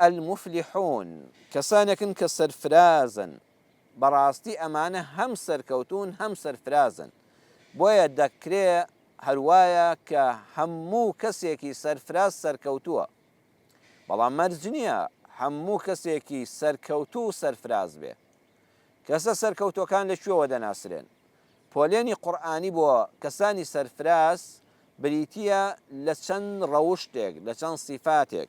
المفلحون، کەسانێکن کە سەرفرازن، بەڕاستی ئەمانە هەم سەرکەوتوون هەم سەرفرازن، بۆیە دەکرێ هەروایە کە هەموو کەسێکی سەرفراز سەرکەوتووە، بەڵام مەرج نییە هەموو کەسێکی سەرکەوتوو سەرفراز بێ. کەسە سەرکەوتووەکان لە کوێوە دەناسرێن؟ پۆلێنی قورئانی بۆ کەسانی سەرفراز بریتییە لە چەند ڕەوشتێک، لە چەند سیفاتێک.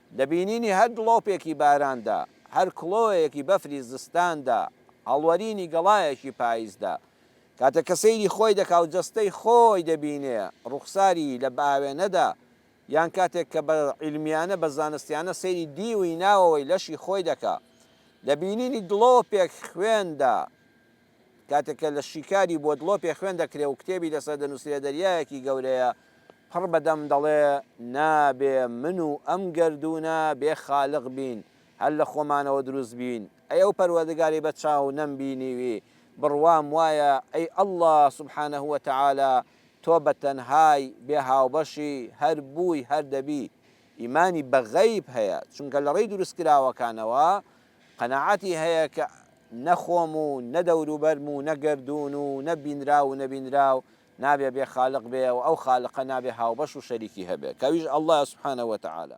لە بینینی هەر دڵۆپێکی باراندا، هەر کڵۆیەکی بەفری زستاندا، هەڵوەرینی گەڵایەکی پایزدا، کاتێک کە سەیری خۆی دەکا و جەستەی خۆی دەبینێ ڕوخساری لە بئاوێنەدا، یان کاتێک کە بە عیلمیانە، بە زانستیانە سەیری دیوی ناوەوەی لەشی خۆی دەکا، لە بینینی دڵۆپێک خوێندا، کاتێک کە لە شیکاری بۆت ڵۆپێ خوێن دەکرێ و کتێبی لەسەر دەنووسرێ دەریایەکی گەورەیە پڕ بە دەم دەڵێ نابێ من و ئەم گەردوونە بێ خالق بین هەر لە خۆمانەوە دروست بین ئەی ئەو پەروەردگاری بە چاو نەم بینیوی بڕوام وایە ئەی اللە سبحانە و تعالی تۆ بە تەنهای بێ هاوبەشی هەر بووی هەر دەبی ئیمانی بە غەیب هەیە چونکە لە ڕێی دروست کراوەکانەوە قەناعەتی هەیە کە نە خۆم و نە دەوروبەرم و نە گەردوون و نە بینراو و نەبینراو نابێ بێ خالق بێ و ئەو خالقە نابێ هاوبەش و شەریکی هەبێ کە ئەویش اللە یە سبحانە وتعالی.